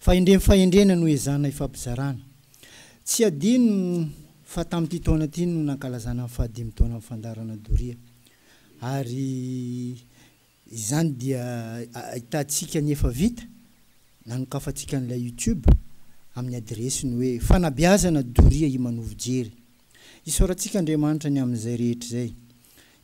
Fahendrem fahendrena no ezahana ifampizarana. Tsy adino fa tamin'ity taona ity no nankalazana ny fahadimy taonan'ny fandaharana doria. Ary izany dia ahitantsika ny efa vita, nanokafantsika an'ilay YouTube amin'ny adiresy ny hoe, Fanabeazana doria Imanovo Jery. Isaorantsika Andriamanitra ny amin'izay rehetra izay.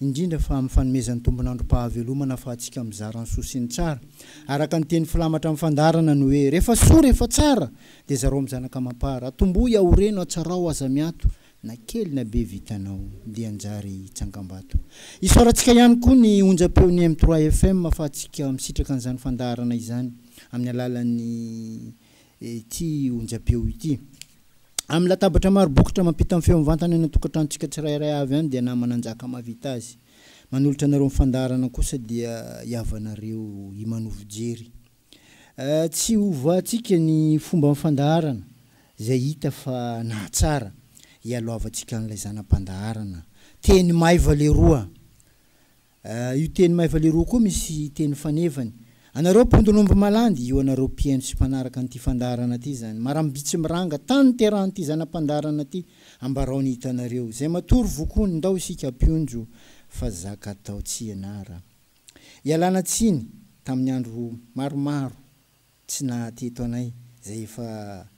indrindra fa amin'ny fanomezan'ny tompon'androm-pahavelomana afahantsika mizara ny soa sy ny tsara. Araka ny teny filamatra amin'ny fandaharana ny hoe, Rehefa soa, rehefa tsara, dia zarao amin'ny zanaka amam-para. Atombohy, aoreno, atsarao, aza miato, na kely na be vitanao, dia hanjary tsangambato. Isaorantsika ihany koa ny onjam-peon'ny M3 FM afahantsika misitraka an'izany fandaharana izany amin'ny alalan'ny. ity onjam-peo ity. Amin'ny latabatra maro bokotra mampita ny feo mivantana any an-tokantranontsika tsirairay avy any dia namana njaka mahavita azy. Manolotra anareo ny fandaharana kosa dia hihavanareo himanovo jery. Tsy hovahantsika ny fomban'ny fandaharana izay hita fa nahatsara, hialohavantsika an'ilay zana-pandaharana, teny maiva leroa! Ah, io teny maivaleroa koa misy teny fanevany. Anareo mpondron'omby malandy, io anareo mpihaino sy mpanaraka an'ity fandaharana ity izany. Marambiitsy miranga tany niterahan'ity zana-pandaharana ity, ambarao ny hitanareo. Izay matory vokony, ndao isika mpionjo fa zaka atao tsy ianara. Ialana tsiny tamin'ny andro maromaro tsy naha teto anay, izay efa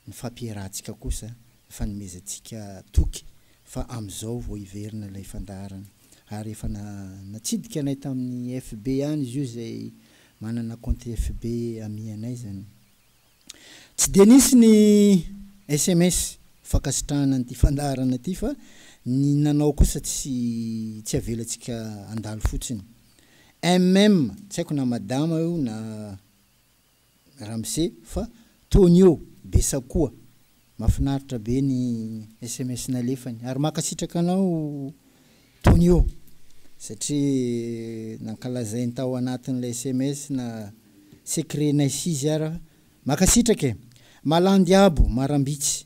ny fampierahantsika kosa ny fanomezantsika toky fa amin'izao vao hiverina ilay fandaharana ary efa natsidika anay tamin'ny FB ihany izy io izay manana compte FB amianay izany. Tsy dia nisy ny sms fankasitrahana an'ity fandaharana ity fa ny nanao kosa tsy tsy avelantsika handalo fotsiny. MM, tsy haiko na madama io na. Ramose fa Tonio be sakoa. Mafinaritra be ny sms nalefany ary mankasitraka anao Tonio satria nankalazainy tao anatin'ilay sms na secret-nay sizy ara. Mankasitraka e. Malandy abo marambitsy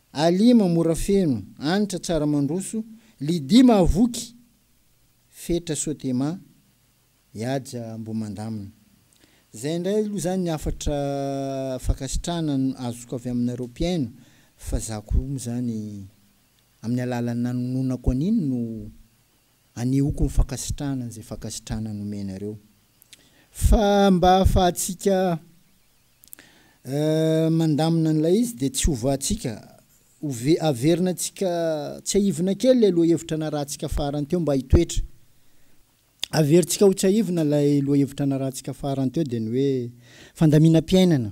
Alima mora feno, Anitra tsara mandroso, Lydia mahavoky, Fetra soa Tema, Ihaja mbo mandamina. Zay ndray aloha zany ny hafatra fankasitrahana azoko avy aminareo mpihaino fa za koa moa zany amin'ny alalan'ny nanononako an'iny no Anehoako ny fankasitrahana an'izay fankasitrahana nomenareo. Fa mba hahafahantsika mandamina an'ilay izy dia tsy hovahantsika, averina antsika, tsiahivina kely ilay lohahevitra narahantsika farany teo mba hitoetra. Averintsika ho tsiahivina ilay lohahevitra narahantsika farany teo dia ny hoe fandaminam-piainana.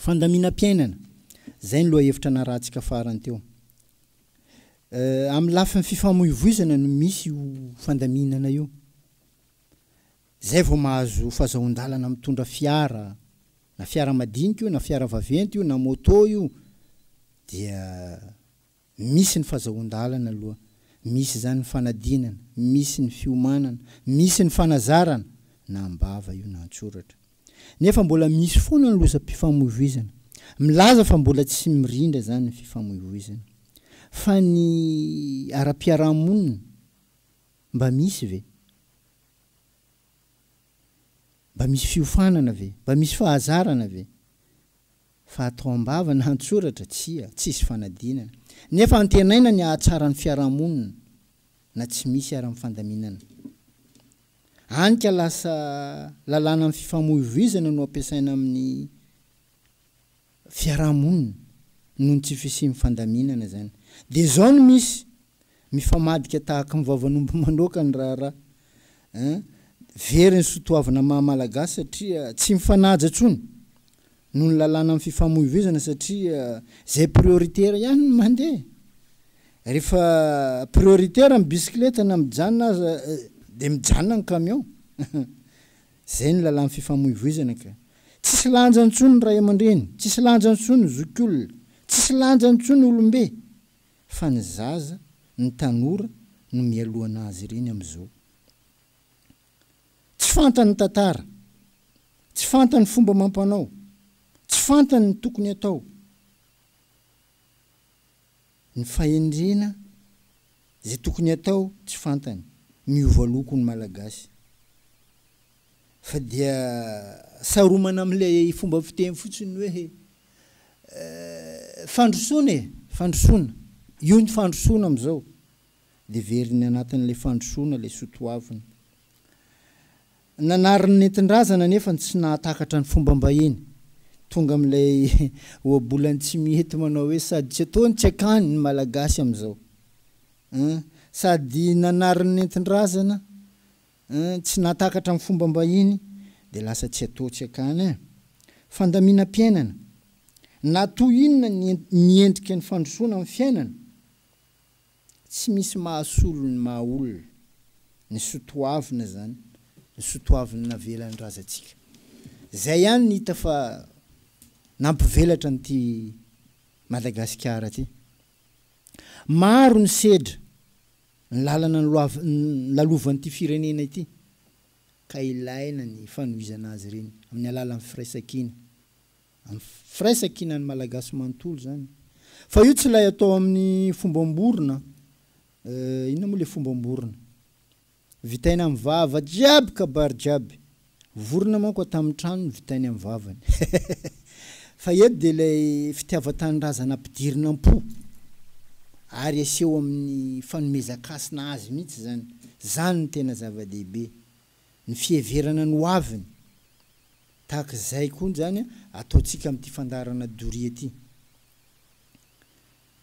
fandaminam-piainana, izay ny lohahevitra narahantsika farany teo. Amin'ny lafiny fifamoivoizana no misy io fandaminana io. Izay vao mahazo fahazahoan-dalana mitondra fiara, na fiara madinika io, na fiara vaventy io, na moto io, dia Misy ny fazahoan-dalana aloha, misy izany ny fanadinana, misy ny fiomanana, misy ny fanazarana, na am-bava io na an-tsoratra. Nefa mbola misy foana ny lozam-pifamoivoizana. Milaza fa mbola tsy mirindra izany ny fifamoivoizana. Fa ny ara-piarahamonina, mba misy ve? Mba misy fiofanana ve? Mba misy fahazarana ve? Fa atao am-bava na an-tsoratra, tsia, tsisy fanadinana. Nefa antenaina ny hahatsara ny fiarahamonina na tsy misy ary amin'ny fandaminana. Any ka lasa lalànan'ny fifamoivoizana no ampiasaina amin'ny fiarahamonina noho ny tsy fisian'ny fandaminana izany. Dia izao no misy Mifamadika tahaka ny vavan'omby manoaka ny raharaha eh. Very ny soa toavina maha Malagasy satria tsy mifanaja intsony noho ny lalàna amin'ny fifamoivoizana satria izay prioritera ihany no mandeha. Rehefa prioritera ny bisikileta na mijanona aza dia mijanona ny camion. Izay ny lalàn'ny fifamoivoizana ka. Tsisy lanja intsony ny ray aman-dreny, tsisy lanja intsony ny zokiolona, tsisy lanja intsony olom-be. fa ny zaza, ny tanora no mialohanà azy ireny amin'izao. Tsy fantany ny tantara, tsy fantany ny fomba amam-panao, tsy fantany ny tokony atao, ny fahendrena, izay tokony atao tsy fantany. Miova loko ny Malagasy. Fa dia saromana amin'ilay fomba fiteny fotsiny hoe eh, fandrosoana e, fandrosoana, io ny fandrosoana amin'izao. Dia veriny anatin'ilay fandrosoana ilay soatoavina. Nanary ny nentin-drazana nefa tsy nahatakatra ny fombam-bahiny. Tonga amin'ilay ohabolany tsy mety manao hoe sady tsy ataony tsy akany ny Malagasy amin'izao. Sady nanary ny nentin-drazana, Hein tsy nahatakatra ny fomba mbahiny de lasa tsy atao tsy akany hein. Fandaminam-piainana. Na toy inona ny miendrika ny fandrosoana amin'ny fiainana, tsy misy mahasolo ny maha olona, ny sotoavina zany, ny sotoaviny navelan'ny razantsika. Zay ihany ny hita fa nampivelatra an'ity Madagasikara ty. Maro ny sedra. Ny lalana lalovan'ity firenena ity ka ilaina ny fanohizana azy ireny amin'ny alalan'ny firaisankina. Amin'ny firaisankinan'ny Malagasy manontolo izany fa io tsy ilay atao amin'ny fombam-borona eh, inona moa ilay fombam-borona? Vitaina amin'ny vava jiaby kabary jiaby Vorona manko ato amin'ny trano no vitainy amin'ny vavany. Fa eto dia ilay fitiavan-tanindrazana ampidirina am-po ary aseho amin'ny fanomezan-kasina azy mihitsy izany. Izany no tena zava-dehibe. Ny fiheverana ny hoaviny. Tahaka izay koa izany ataontsika amin'ity fandaharana doria ity.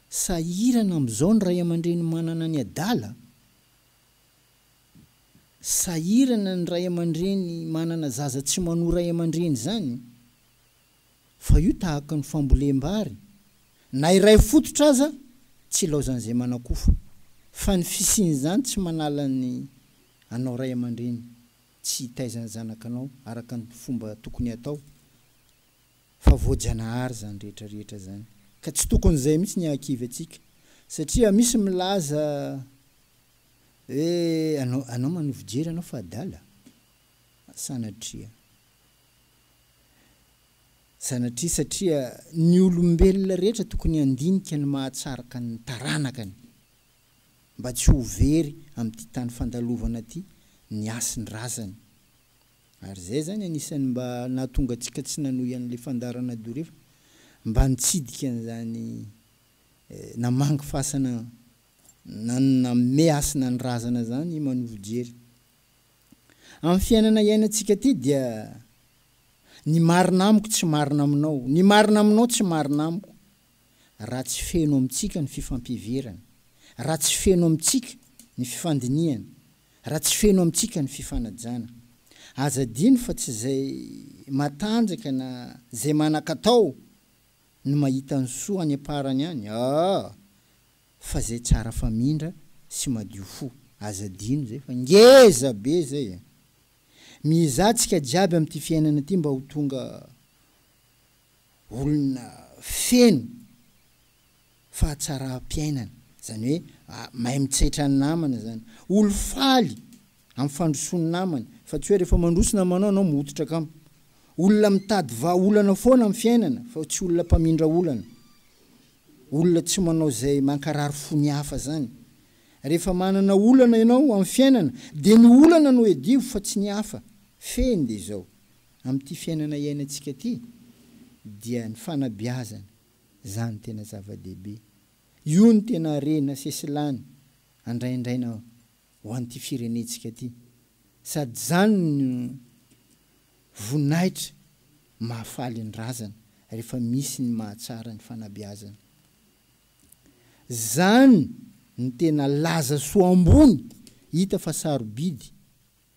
Sahirana amin'izao ny ray aman-dreny manana ny adala? sahirana ny ray aman-dreny manana zaza tsy manoa ray aman-dreny izany fa io tahaka ny fambolem-bary na iray fototra aza tsy ilaozan'izay manakofa fa ny fisian'izany tsy manala ny anao ray aman-dreny tsy hitaiza ny zanakanao araka ny fomba tokony hatao fa voajanahary izany rehetra rehetra izany ka tsy tokony izay mihitsy ny hahakivy antsika satria misy milaza Eh anao anao manohy fijery anao fa adala? Sanatria. Sanatria satria ny olombelona rehetra tokony handinika ny mahatsaraka ny taranakany mba tsy ho very amin'ity tany fandalovana ity ny hasin'ny razany. Ary izay zany anisan'ny mba nahatonga antsika tsy nanohy an'ilay fandaharana dorefy mba nitsidika an'izany eh namangy fasana Nanome hasina ny razana izany i Manovo Jery. Amin'ny fiainana iainantsika ity dia ny marina amiko tsy marina aminao, ny marina aminao tsy marina amiko raha tsy feno amintsika ny fifampiheverana, raha tsy feno amintsika ny fifandinihana, raha tsy feno amintsika ny fifanajana. Aza adino fa tsy izay matanjaka na izay manan-katao no mahita ny soa any am-parany any. Aa! fa zay tsara famindra sy madio fo aza adino zay fa ngeza be zay e! Mizah tsika jiaby amty fiainana ty mba ho tonga olona feno fahatsaram-piainana zany hoe mahay mitsetra ny namana zany olo faly Amin'ny fandrosoan'ny namany, fa tsy hoe rehefa mandroso namanao ianao mihototra kamo. Olona mitady vahaolana foana amin'ny fiainana fa tsy olona mpamindra olana. Olona tsy manao izay mankarary fo ny hafa zany. Rehefa manana olana ianao amin'ny fiainana dia ny olana no hedivo fa tsy ny hafa. Fehiny dia izao, amin'ity fiainana iainantsika ity dia ny fanabeazana zany tena zava-dehibe. Io no tena harena sesilany andraindraina ho an'ity firenentsika ity sady izany no voninahitra mahafaly ny razana rehefa misy ny mahatsara ny fanabeazana. Izany no tena laza soa ambony hita fa sarobidy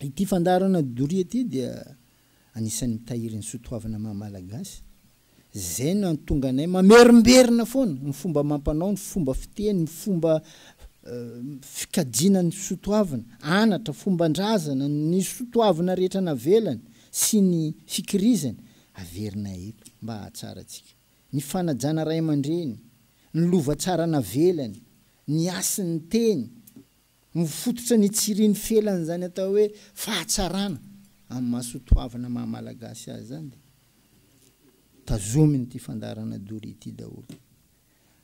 Ity fandaharana doria ity dia anisan'ny mitahiry ny soatoavina maha Malagasy. Izay no antonga anay mamerimberina foana ny fomba amam-panao, ny fomba fiteny, ny fomba fikajiana ny soatoavina, anatra, fomban-drazana, ny soatoavina rehetra navelany sy ny fikirizany, averinay eto mba hahatsarantsika. Ny fanajana ray aman-dreny, ny lova tsara navelany, ny hasin'ny teny, Mifototra ny tsiriny felan'izany atao hoe fahatsarana amin'ny maha soatoavina maha Malagasy azy izany dia tazomin'ity fandaharana doria ity daholo.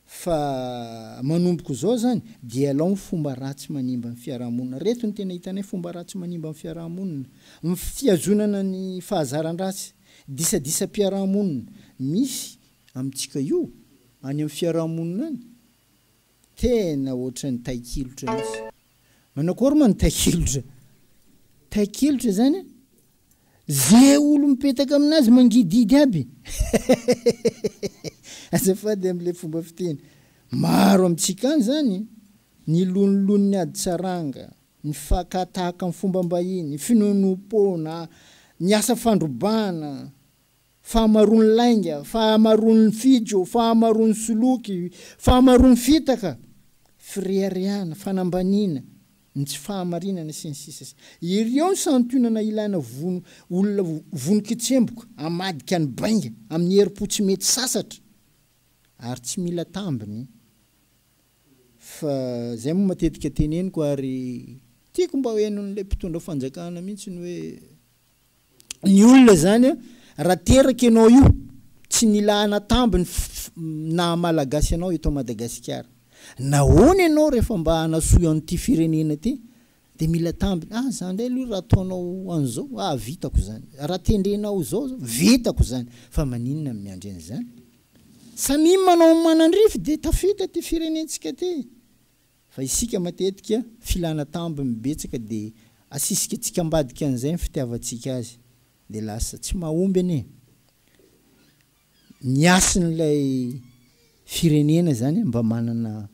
Fa manomboka izao izany dia alao ny fomba ratsy manimba ny fiarahamonina. Ireto no tena hitanay fomba ratsy manimba ny fiarahamonina. Ny fihazonana ny fahazaran-dratsy, disadisam-piarahamonina misy amintsika io any amin'ny fiarahamonina any. Tena ohatran'ny tahikilotra mihitsy. Manao akory moa ny tahikilotra? Tahikilotra zany a, ze olo mipetaka aminazy mangidihidy aby. Azafady amle fomba fiteny. Maro amintsika any zany ny loniloniny ady saranga, ny fakatahaka ny fombam-bahiny, finoanoam-poana, ny asa fandrobana, fahamaroan'ny lainga, fahamaroan'ny fijo, fahamaroan'ny soloky, fahamaroan'ny fitaka, fireharehana, fanambaniana, ny tsy fahamarinana, sy ny sisa sy Ireo ny santionana ilaina vono olona vono kitsemboka, hamadika ny bainga amin'ny herim-po tsy mety sasatra ary tsy mila tambiny fa izay moa matetika teneniko ary tiako mba henon'ilay mpitondra fanjakana mihitsy ny hoe ny olona izany an, raha teraka ianao io, tsy mila hanatamby ny naha Malagasy anao eto Madagasikara. Nahoana ianao rehefa mba hanasoy an'ity firenena ity dia mila tambiny, ah za indray aloha raha ataonao an'izao, ah vitako izany, raha tendrenao izao zao, vitako izany, fa maninona no miandry an'izany? Samia manao ny manandrify dia tafita ity firenentsika ity. Fa isika matetika filana tambiny betsaka dia asisikatsika ambadika an'izay ny fitiavantsika azy dia lasa tsy mahomby anie ny hasin'ilay firenena izany mba manana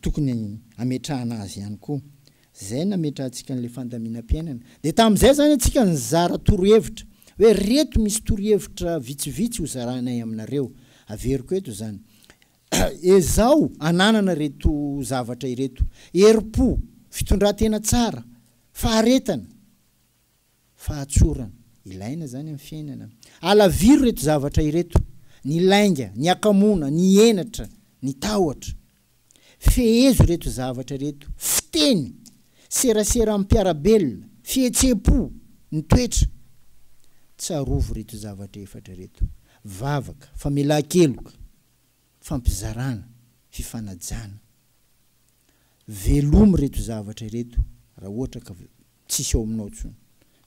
tokony hametrahana azy ihany koa izay nametrahantsika an'ilay fandaminam-piainana dia tamin'izay izany antsika nizara torohevitra hoe reto misy torohevitra vitsivitsy hozarainay aminareo averiko eto izany Ezaho ananana ireto zavatra ireto, herim-po, fitondran-tena tsara, faharetana, fahatsorana. Ilaina izany amin'ny fiainana. Alaviro ireto zavatra ireto, ny lainga, ny akamoana, ny henatra, ny tahotra. Fehezo ireto zavatra ireto, fiteny, serasera amin'ny mpiara-belona, fihetseham-po, ny toetra. Tsarovy ireto zavatra efatra ireto, vavaka, famelan-keloka, fampizarana, fifanajana. Velomy ireto zavatra ireto raha ohatra ka tsisy ao aminao intsony.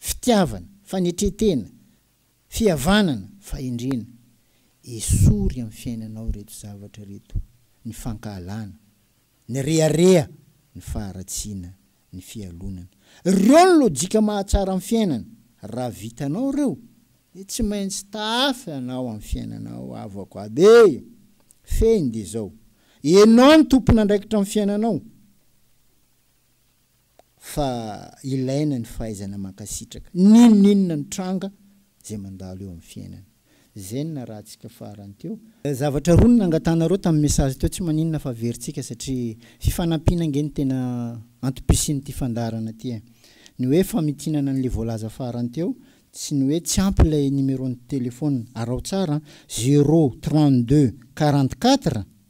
Fitiavana, fanetren-tena, fihavanana, fahendrena. Esory amin'ny fiainanao ireto zavatra ireto, ny fankahalana, ny rehareha, ny faharatsiana, ny fialonana. Ireo no lojika mahatsara ny fiainana. Raha vitanao ireo dia tsy maintsy taafy anao amin'ny fiainanao havako aby e! Fehiny dia izao, ianao no tompon'andraikitra amin'ny fiainanao fa ilaina ny fahaizana mankasitraka n'inon'inona nitranga izay mandalo eo amin'ny fiainana. Zen na ratsika farany teo. Zavatra roa no nangatanareo tamin'ny message teo tsy maninona fa averintsika satria fifanampiana ange no tena antom-pisian'ity fandaharana ity e. Ny hoe famitinana an'le voalaza farany teo sy ny hoe tsy ampy ilay numeron'ny telephone, araho tsara an, zéro trente deux quarante quatre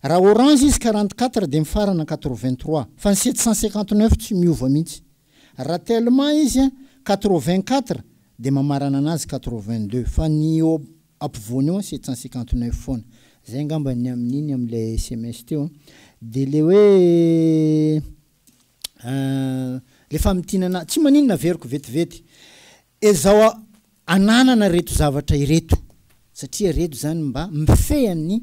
Raha orange izy quarante quatre dia mifarana quatre vingt trois fa ny sept cent cinquante neuf tsy miova mihitsy. Raha tellement izy quatre vingt quatre dia mamarana anazy quatre vingt deux fa ny eo ampovoany eo sept cent cinquante neuf foana. Zay angamba ny amin'iny amin'ilay sms teo an. Dia ilay hoe ilay famintinana tsy maninona averiko vetivety. Ezao ananana ireto zavatra ireto satria ireto izany mba mifehy an'ny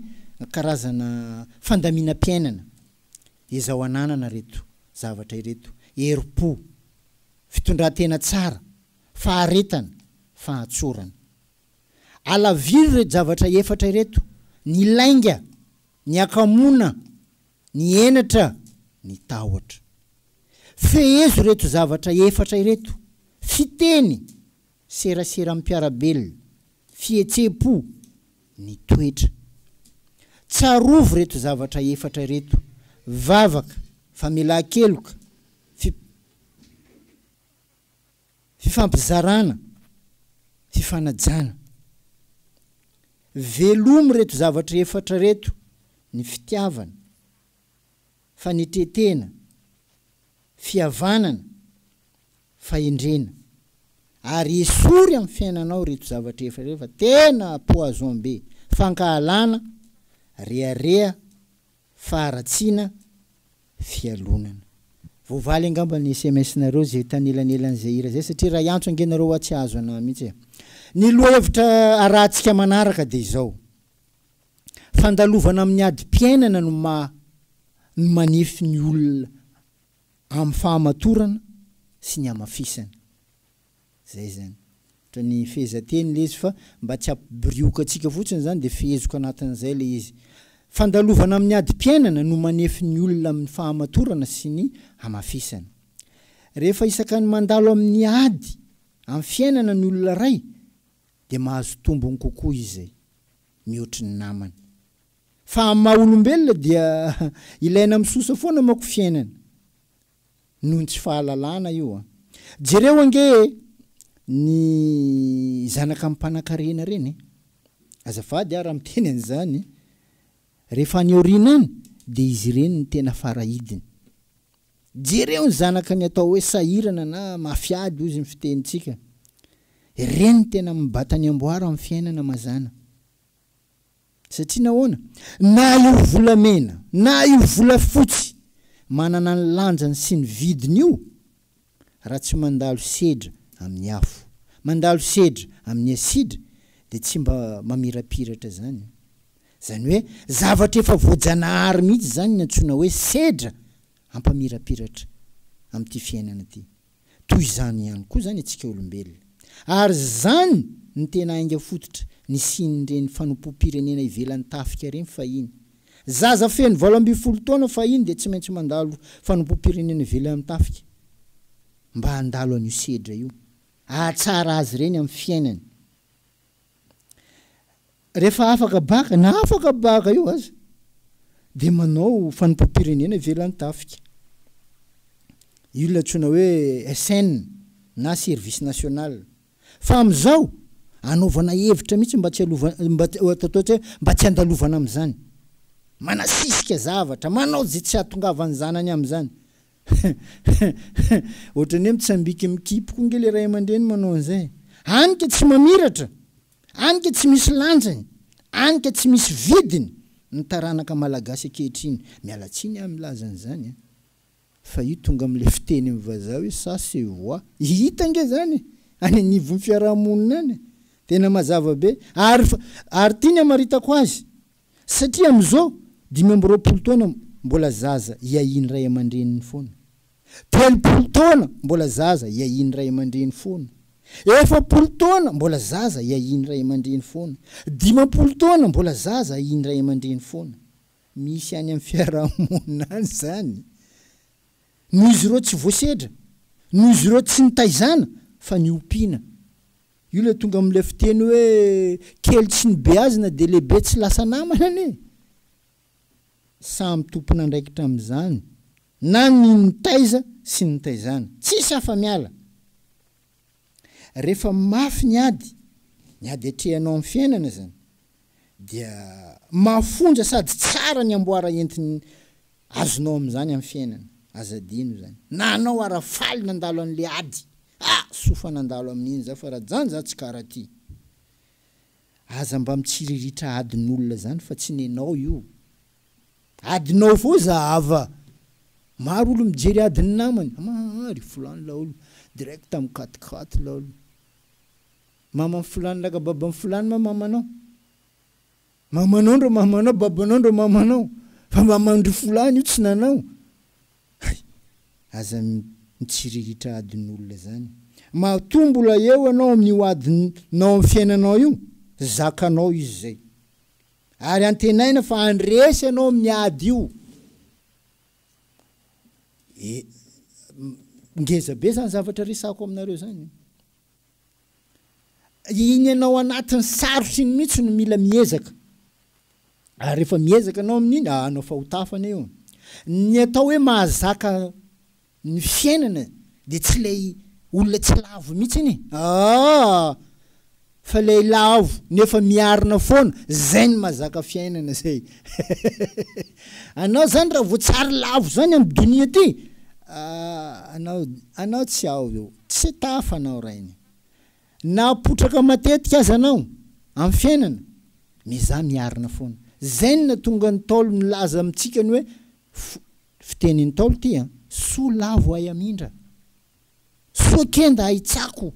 karazana fandaminam-piainana. Ezao ananana ireto zavatra ireto, herim-po, fitondran-tena tsara, faharetana, fahatsorana. Alaviro ireto zavatra efatra ireto, ny lainga, ny hakamoana, Ny henatra, ny tahotra. Fehezo ireto zavatra efatra ireto, fiteny, serasera amim-piara-belona, fihetseham-po, ny toetra. Tsarovy ireto zavatra efatra ireto, vavaka, famelan-keloka, fi. Fifampizarana, fifanajana. Velomy reto zavatra efatra reto, ny fitiavana, fanetretena, fihavanana, fahendrena. Ary esory amin'ny fiainanao reto zavatra efatra reto fa tena poison be, fankahalana, rehareha, faharatsiana, fialonana. Voavaly angamba ny sms nareo zay tanelanelan zay hira zay satria ray antso ange nareo hoa tsy ahazo anah mihitsy e. Ny lohahevitra arahantsika manaraka dia izao, fandalovana amin'ny adim-piainana no maha no manefy ny olona amin'ny fahamatorana sy ny hamafisana. Zay zany. Otrany fehezanteny le izy fa mba tsy hampibirioka antsika fotsiny zany de fehezoka anatin'izay le izy. Fandalovana amin'ny adim-piainana no manefy ny olona amin'ny fahamatorana sy ny hamafisana. Rehefa isakany mandalo amin'ny ady amin'ny fiainana ny olona iray de mahazo tombony kokoa izy mihoatry ny namany. Fa amin'ny maha olombelona dia ilaina misosa foana manko fiainana. noho ny tsy fahalalana io an! Jereo ange ny zanaka mpanankarena reny e! Azafady aho raha miteny an'izany, rehefa any aoriana any dia izy ireny no tena fara hidiny. Jereo ny zanaka ny atao hoe sahirana na mafy ady hozy ny fitenintsika. Ireny tena mibata ny amboara amin'ny fiainana mazàna. Satria nahoana? Na io volamena, na io volafotsy, manana ny lanjany sy ny vidiny io, raha tsy mandalo sedra amin'ny afo, mandalo sedra amin'ny asidra, dia tsy mba mamirapiratra izany. Izany hoe, zavatra efa voajanahary mihitsy izany ny antsoina hoe sedra hampamirapiratra amin'ity fiainana ity. Toy izany ihany koa izany antsika olombelona. Ary izany no tena hainga fototra nisian'ireny fanompoam-pirenena ivelan'ny tafika ireny fahiny. Zaza feno valo ambin'ny folo taona fahiny dia tsy maintsy mandalo fanompoam-pirenena ivelan'ny tafika mba handalo an'io sedra io, hahatsara azy ireny amin'ny fiainany. Rehefa afaka baka, na afaka baka eo aza, dia manao fanompoam-pirenena ivelan'ny tafika. Io ilay antsoina hoe SN na service national. Fa amin'izao, anaovana hevitra mihitsy mba tsy halovan, mba tsy handalovana amin'izany. Manasisika zavatra, manao izay tsy hahatongavan'ny zanany amin'izany. Ohatran'ny hoe mitsambika mikipy koa nge le ray aman-dreny manao an'izay. Any ka tsy mamiratra, any ka tsy misy lanjany, any ka tsy misy vidiny ny taranaka malagasy ankehitriny. Miala tsiny aho milaza an'izany an! Fa io tonga amin'ilay fiteny amin'ny vazaha hoe ça se voit. Hita ange izany e! Any anivon'ny fiaraha-monina any e! Tena mazava be. Ary, ary ity ny hamaritako azy, Satria amin'izao dimy amby roapolo taona mbola zaza iahian'ny ray aman-dreniny foana. Telopolo taona mbola zaza iahian'ny ray aman-dreny foana. Efapolo taona mbola zaza iahian'ny ray aman-dreny foana. Dimampolo taona mbola zaza ahian'ny ray aman-dreny foana. Misy any amin'ny fiarahamonina any izany. Noho izy ireo tsy voasedra, noho izy ireo tsy nitaizana fa niompiana. Io le tonga amle fiteny hoe kely tsy nibeazina de lehibe tsy lasa namana anie! Samy tompon'andraikitra amin'izany na ny nitaiza sy ny nitaizana. Tsisy afa-miala! Rehefa mafy ny ady, ny ady atrehanao amin'ny fiainana izany, dia mafonja sady tsara ny amboara entiny azonao amin'izany amin'ny fiainana, aza adino izany na anao ara faly nandalo an'le ady ah! soa fa nandalo amin'iny za fa raha zany za tsy kara ty aza mba mitsiriritra adin'olona zany fa tsy nenao io adinao fô za ava maro olo mijery adin'ny namany ama ry fulany laolo direct mikatikaty laolo. Maman'i fulany laka baban'i fulany ma mamanao? Mamanao ndro mamanao babanao ndro mamanao fa mamandry fulany io tsy nanao hay aza mitsiriritra adin'olona zany matoa mbola eo anao amin'io adinao am fiainanao io zakanao izy zay ary antenaina fa handresy anao amin'ny ady io e ngeza be zany zavatra resako aminareo zany Iny anao anatin'ny sarotra iny mihitsy no mila miezaka. Ary rehefa miezaka anao amin'iny, ah, anao fahotafana io. Ny atao hoe mahazaka ny fiainana dia tsy ilay olona tsy lavo mihitsy iny, ah, fa ilay lavo nefa miarina foana, izay no mahazaka fiainana izay. anao izany raha vao tsy ary lavo izany amin'ny donia ity, ah, anao, anao tsy ao eo. Tsy tafa anao rainy. Na potraka matetika aza anao amin'ny fiainana, miezaha miarina foana. Zen no tonga Ntaolo nilaza amintsika ny hoe, fiteny Ntaolo ity an, soa lavo ahy hamindra, soa kenda ahy tsako.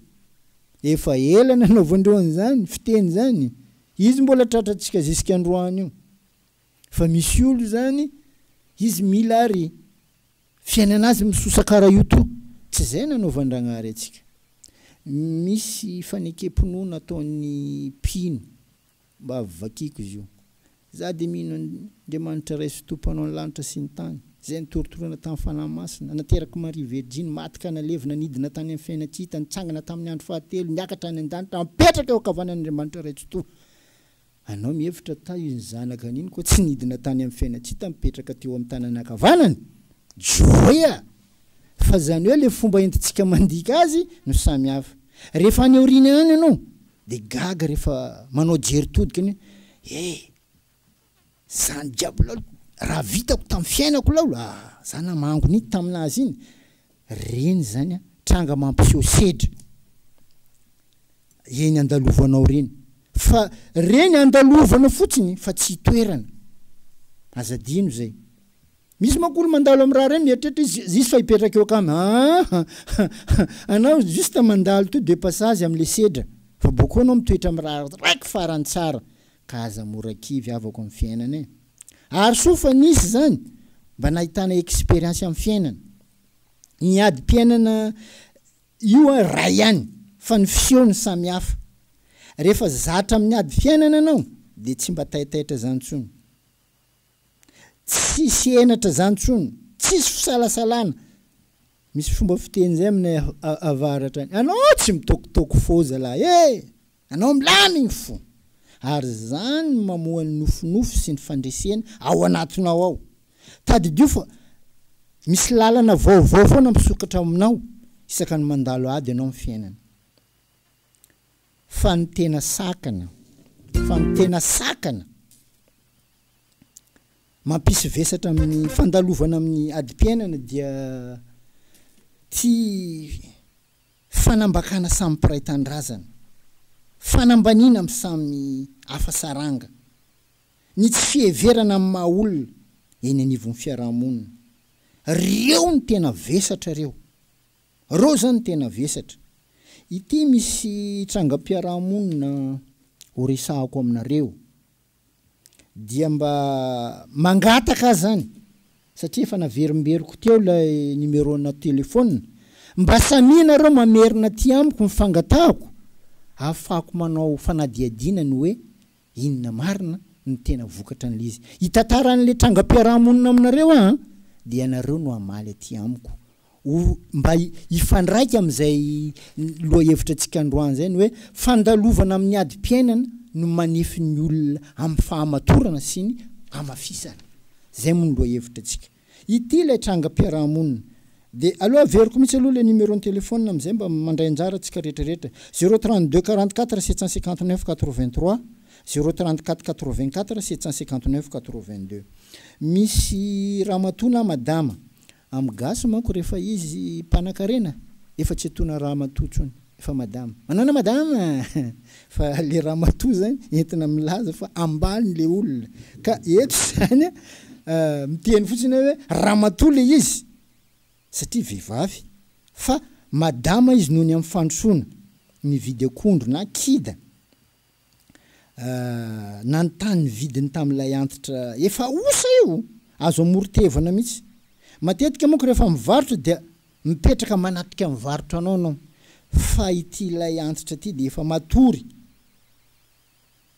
Efa ela nanaovan'ireo an'izany fiteny izany. Izy mbola tratrantsika zisika androany io. Fa misy olo izany, izy mila ary. Fiainana azy misosa kara io toa tsy izay nanaovan-dragnahary antsika. Misy fanekem-pinoana ataon'ny mpino mba vakiko izy io. Za dia mino an' Andriamanitra Ray sy Tompo mpanao ny lanitra sy ny tany, izay nitorotoroana tamin'ny Fanahy Masina, nanaterak'i Maria Verjiny, maty ka nalevina, nidina tany amin'ny fiainana tsy hita, nitsangana tamin'ny andro fahatelo, niakatra any an-danitra, apetraka eo ankavanan'Andriamanitra Ray Tsitoha. Anao mihevitra tah iny zanaka any iny koa tsy nidina tany amin'ny fiainantsita mipetraka teo amin'ny tanana ankavanana? Joea! Fa izany hoe ilay fomba entintsika mandika azy no samy hafa. Rehefa any aoriana any ianao dia gaga rehefa manao jery todika ny hoe, eh! Zany jiaby laolo raha vitako tam fiainako laolo ah za namango nity taminazy iny reny zany an tranga mampiseho sedra eny andalovanao reny fa reny andalovana fotsiny fa tsy itoerana aza adino zay misy manko olo mandalo am raha reny mieritreritra izy zisy fa hipetraka eo akama aa anao juste mandalo to de passage am le sedra fa boko anao mitoetra am raha raiky farany tsara Ka aza mora kivy havako amin'ny fiainana e! Ary soa fa nisy izany mba nahitana expérience amin'ny fiainana. Ny adim-piainana io ary iray ihany fa ny fiseho no samy hafa. Rehefa zatra amin'ny ady fiainana ianao dia tsy mba taitaitra izany intsony. Tsisy henatra izany intsony, tsisy fisalasalana. Misy fomba fiteny izay aminay avaratra any, anao tsy mitôkotôko fô zalahy e! Anao milamy ny fo, ary izany no mamoha ny nofinofy sy ny fandresena ao anatinao ao. Tadidio fa misy lalana vaovao foana misokatra ao aminao isaka ny mandalo ady anao amin'ny fiainana. Fa ny tena sakana, fa ny tena sakana mampisy vesatra amin'ny fandalovana amin'ny adim-piainana dia tsy Fanambakana samy mpiray tanindrazana, fanambaniana amin'ny samy hafa saranga, ny tsy fiheverana amin'ny maha olona eny anivon'ny fiaraha-monina. Reo no tena vesatra reo. Reo zany no tena vesatra. Ity misy trangam-piaraha-monina horesahako aminareo dia mba mangataka ahy zany satria efa naverimberiko teo ilay numerona telephone mba samia nareo mamerina aty amiko ny fangatahako ahafahako manao fanadihadiana ny hoe inona marina ny tena vokatra an'ilay izy hitantaran'ilay trangam-piarahamonina aminareo aho an dia ianareo no hamaly aty amiko ho mba hifandraika amin'izay lohahevitrantsika androany izay, ny hoe fandalovana amin'ny adim-piainana no manefy ny olona amin'ny fahamatorana sy ny hamafisana. Izay moa ny lohahevitrantsika. Ity ilay trangam-piarahamonina. Dia aleo averiko mihitsy aloha ilay numéro-n'ny telefaonina amin'izay mba mandray anjara antsika rehetrarehetra. Zéro trente deux quarante quatre sept cent cinquante neuf quatre vingt trois, zéro trente quatre quatre vingt quatre sept cent cinquante neuf quatre vingt deux. Misy ramatoa na madama Am gasy manko rehefa izy mpanakarena efa tsy atona ramatoa tsony fa madama. Manana madama fa le ramatoa zany entina milaza fa ambaliny le olona ka eto zany a miteny fotsiny aho hoe ramatoa le izy satria vehivavy fa madama izy noho ny am fandrosoana mividy akondro na kida nanontany ny vidiny tamin'ilay antitra efa osa io, azo amoron-tevana mihitsy. Matetika manko rehefa mivarotra dia mipetraka manatrika ny varotranao ianao fa ity ilay antitra ity dia efa matory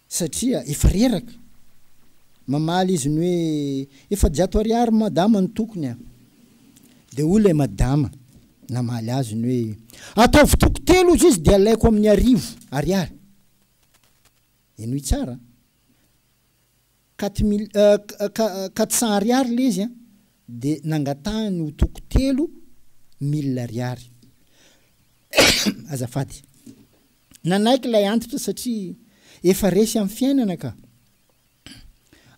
satria efa reraka. Mamaly izy ny hoe, efajato ariary madama ny tokony a! Dia hoy ilay madama. Namaly azy ny hoe, Ataovy toko telo ozy izy dia alaiko amin'ny arivo Ariary. Henoy tsara an! Quatre mille, euh, quatre cents Ariary ilay izy an! Dia nangatahany ho toko telo mille Ariary. Azafady. Nanaiky ilay antitra satria efa resy amin'ny fiainana ka.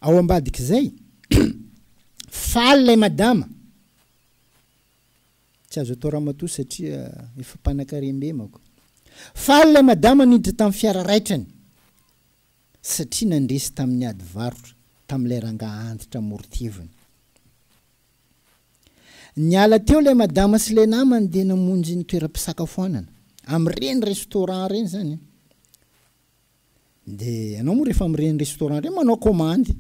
Ao ambadik'izay, faly ilay madama. Tsy azo atao ramatoa satria efa mpanakarem-be manko. Faly ilay madama niditra tamin'ny fiara raitrany satria nandresy tamin'ny ady varotra tamin'ilay rangahy antitra amoron-teviny. Niala teo ilay madama sy ilay namany dia namonjy ny toeram-pisakafoanana, amin'ireny restaurant ireny izany. De ianao moa rehefa mireny restaurant reny manao komandy,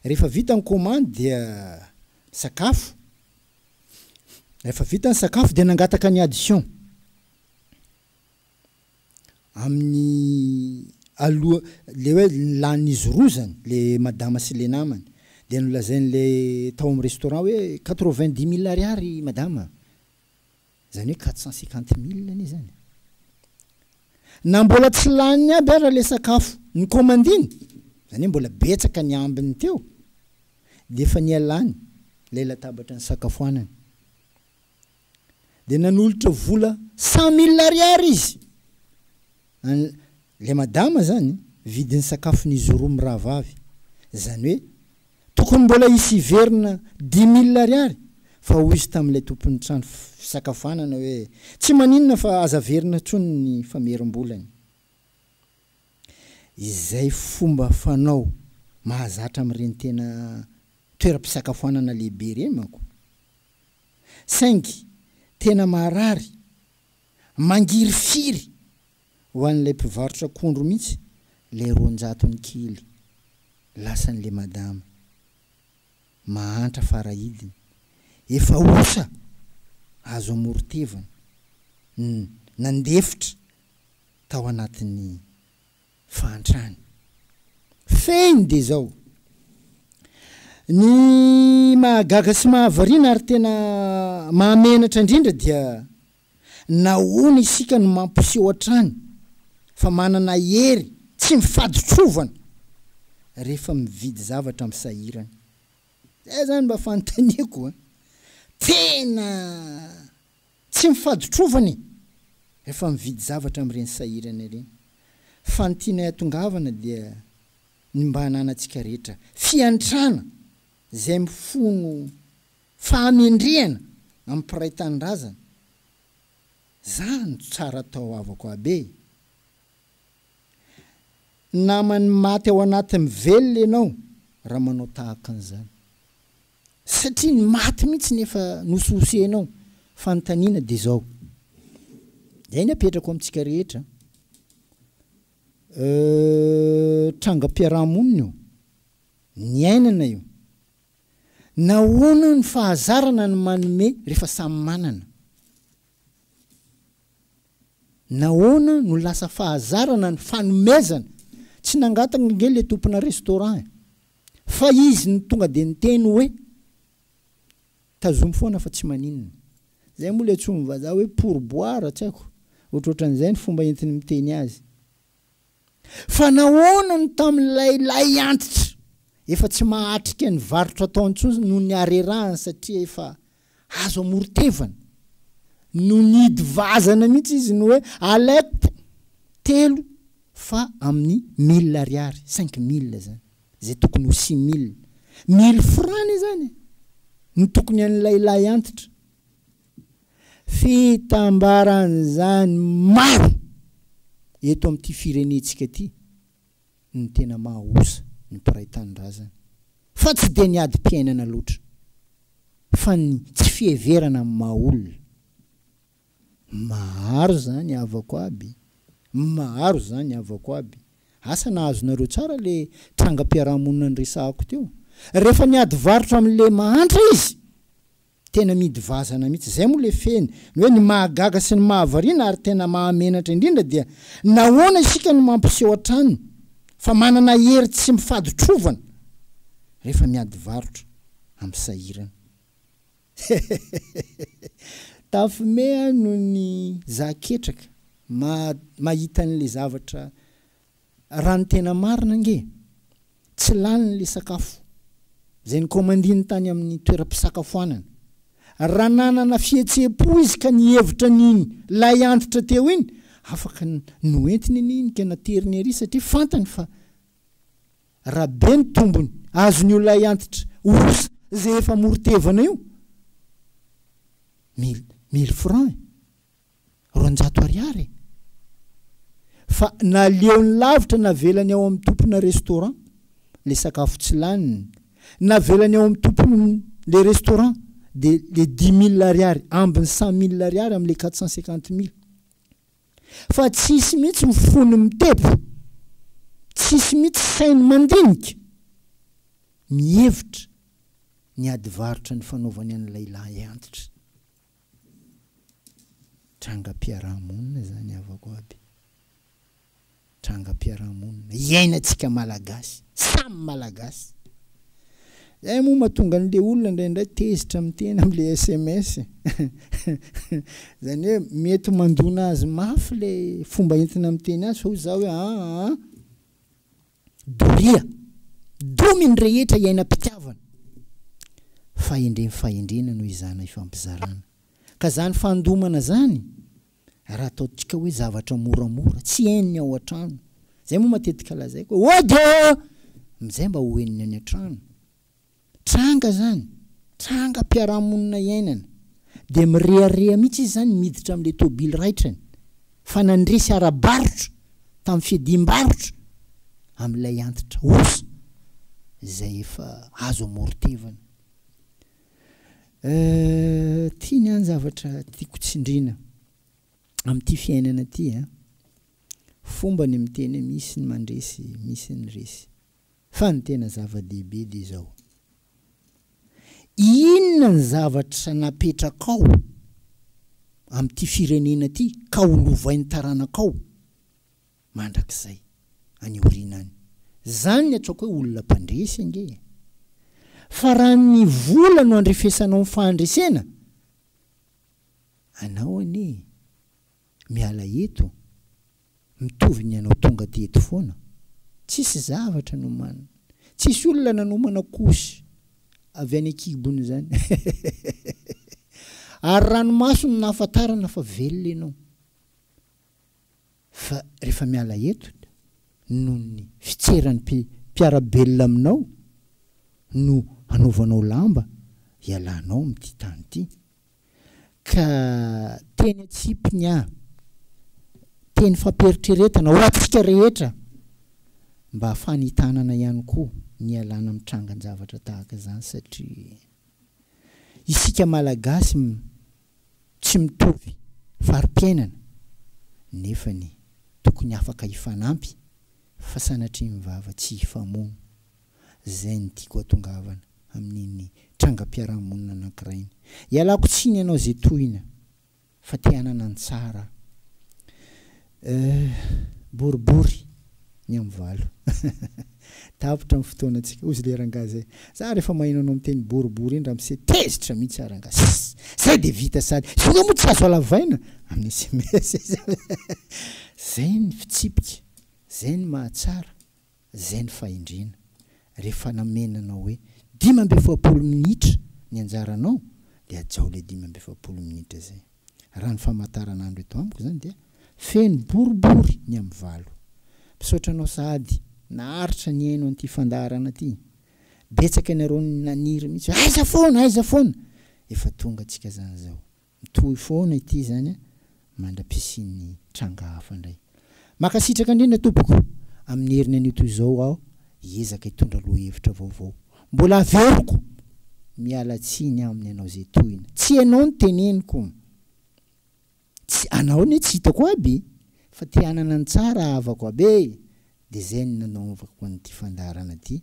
rehefa vita ny komandy dia sakafo, rehefa vita ny sakafo dia nangataka ny addition amin'ny aloha, le hoe lanin'izy roa zany, le madama sy le namany, dia nolazain'le tao amin'ny restaurant hoe quatre vingt dix mille ariary madama, Izany hoe quatre cent cinquante mille anie izany. Na mbola tsy laniny aby ara ilay sakafo nikaomandiny, izany hoe mbola betsaka ny ambiny teo, dia efa nialany ilay latabatra nisakafoanana. Dia nanolotra vola cent mille ariary izy. An le madama zany vidiny sakafo ny zoro mirahavavy zany hoe tokony mbola hisy hiverina dix mille ariary fa hoy izy tamin'ilay tompon'ny trano fisakafoanana hoe tsy maninona fa aza averina tsony ny famerimbolany izay fomba fanao mahazatra amin'ireny tena toeram-pisakafoanana lehibe ireny manko saingy tena maharary Mangirifiry ho an'ilay mpivarotra akondro mihitsy ilay roanjato ny kily lasan'ilay madama. Mahantra fara hidiny. Efa osa azo amoron-tevana ny nandefitra tao anatin'ny fahantrany. Fehiny dia izao. Ny mahagaga sy mahavariana ary tena mahamenatra indrindra dia nahoana isika no mampiseho hatrany fa manana hery tsy mifaditrovana rehefa mividy zavatra amin'ny sahirana. Izay izany mba fanontaniako an! Tena. Tsy ny faditrovana e! Efa mividy zavatra amin'ireny sahirana ireny. Fa ny tianay hatongavana dia ny mba hananantsika rehetra fiantrana izay mifono fahamendrehana amin'ny mpiray tanindrazana. Zany no tsara atao havako aby e! Naman'ny maty ao anaty mivelona ianao raha manao tahaka an'izany. Satria ny maty mihitsy no efa nosohosenao. Fanontaniana dia izao. Izay ny apetrako amintsika rehetra an. Euh, trangam-piaraha-monina io. Niainana io. Nahoana ny fahazarana ny manome rehefa samy manana. Nahoana no lasa fahazarana ny fanomezana? Tsy nangataka ange le tompona restaurant e! Fa izy no tonga de niteny hoe tazomy foana fa tsy maninona. Zay moa le antsoin'ny vazaha hoe pourboire tsy haiko, ohatrohatran'izay ny fomba entiny miteny azy. Fa nahoana no tamin'ilay lay antitra efa tsy mahatrika ny varotra ataony intsony no niarerahany satria efa azo amoron-tevana no nihidy vazana mihitsy izy ny hoe alep telo fa amin'ny mille ariary, cinq mille izany, izay tokony ho six mille, mille francs izany e! no tokony an'ilay lay antitra. Fitambaran'izany maro eto amin'ity firenentsika ity ny tena maha osa ny mpiray tanindrazana fa tsy dia ny adim-piainana loatra fa ny tsy fiheverana amin'ny maha olona. Maro izany havako aby, maro izany havako aby. Asa na azonareo tsara ilay trangam-piarahamonina niresahako teo? Rehefa niady varotra amin'ilay mahantra izy Tena midy vazana mihitsy. Izay moa ilay fehiny. Ny hoe ny mahagaga sy ny mahavariana ary tena mahamenatra indrindra dia nahoana isika no mampiseho hatrany fa manana hery tsy mifaditrovana rehefa miady varotra amin'ny sahirana. Tafimea noho ny za ketraka mahita an'ilay zavatra Raha ny tena marina ange, tsy lany ilay sakafo izay nikaomandiny tany amin'ny toeram-pisakafoanana. Raha nanana fihetseham-po izy ka nihevitra ny iny lay antitra teo iny, afaka noentiny anie iny ka nateriny ery satria fantany fa raha be ny tombony azon'io lay antitra osa izay efa amoron-tevana io, mille, mille francs e! roanjato ariary e! Fa naleony lavitra navelany ao amin'ny tompona restaurant le sakafo tsy laniny, navelany ao amin'ny tompony le restaurant de le dix mille ariary ambiny cent mille ariary amle quatre cent cinquante mille. Fa tsisy mihitsy ny fony mitepo, tsisy mihitsy sainy mandinika, mihevitra ny ady varotra nifanaovany an'ilay lahy antitra. Trangam-piarahamonina izany havako aby. Trangam-piarahamonina iainantsika Malagasy, samy Malagasy. Izay moa mahatonga an'ilay olona indraindray tezitra amin'ny tena amin'ilay sms e. Izany hoe mety mandona azy mafy ilay fomba entina miteny azy fa hoy izaho hoe aa, Doria, domy ny rehetra iainam-pitiavana. Fahendrem fahendrena no izana ifampizarana. Ka zany fandomana zany raha ataontsika hoe zavatra moramora, tsy henony ao an-trano. Zay moa matetika lazaiko hoe ody ô! Amzay mba ho henony any an-trano. Tranga zany, trangam-piarahamonina iainana. Dia mirehareha mihitsy izy zany miditra amin'ilay tôbily raitrany fa nandresy ara-barotra tamin'ny fiadiam-barotra amin'ilay antitra osa izay efa azo amorotevana. Euh, ty ny an zavatra tiako tsindrina amin'ity fiainana ty an. Fomba ny miteny hoe misy ny mandresy, misy ny resy. Fa ny tena zava-dehibe dia izao, inona ny zavatra napetrakao amin'ity firenena ity ka ho lovain'ny taranakao mandrakizay any aoriana any? Izany ny atsoako hoe olona mpandresy ange e! Fa raha ny vola no andrefesanao ny fahandresena anao anie e! Miala eto, mitovy ny anao tonga aty eto foana. Tsisy zavatra nomanina. Tsisy olona nanomana kosy avy any ankibony izany. Ary ranomaso no nahafantarana fa velona ianao. Fa rehefa miala eto, noho ny fitseran'ny mpiara-belona aminao no hanaovanao lamba hialanao amin'ity tany ity. ka teny an-tsipiny aho, teny fampiheritreretana ho antsika rehetra mba fanitanana ihany koa ny hialana amin'ny trangan-javatra tahaka izany satria isika Malagasy tsy mitovy fari-piainana nefany tokony afaka hifanampy fa sanatria ny vava tsy hifamono. Izay no tiako atongavana amin'iny trangam-piarahamonina anankiray iny. Ialako tsiny ianao izay tohina fa te hanana ny tsara eh, boribory ny amin'ny valo. Tapitra ny fotoanantsika. Hozy ilay rangahy izay, za rehefa maheno anao miteny boribory iny ramose tezitra mihitsy aho rangahy. Ss, zay dia vita sady ioga moa tsy azo halavaina amin'ny sms. Zay ny fitsipika, zay ny mahatsara. Izay ny fahendrena. Rehefa namena anao hoe dimy amby efapolo minitra ny anjaranao dia hajao ilay dimy amby efapolo minitra izay. Raha ny famataranandro eto amiko izany dia feno boribory ny amin'ny valo. Misaotra anao sahady naharitra nihaino an'ity fandaharana ity. Betsaka ianareo naniry mihitsy hoe aiza foana, aiza foana. Efa tonga antsika izany izao. Mitohy foana ity izany a! Mandra-pisian'ny tranga hafa indray. Mankasitraka indrindra tompoko! Amin'ny heriny anio toy izao aho hiezaka hitondra lohahevitra vaovao. Mbola haveriko! Miala tsiny aminy ianao izay tohina. Tsy ianao no teneniko. Tsy, anao anie tsy hitako aby fa te hanana ny tsara havako aby e! Dia izay no nanaovako an'ity fandaharana ity.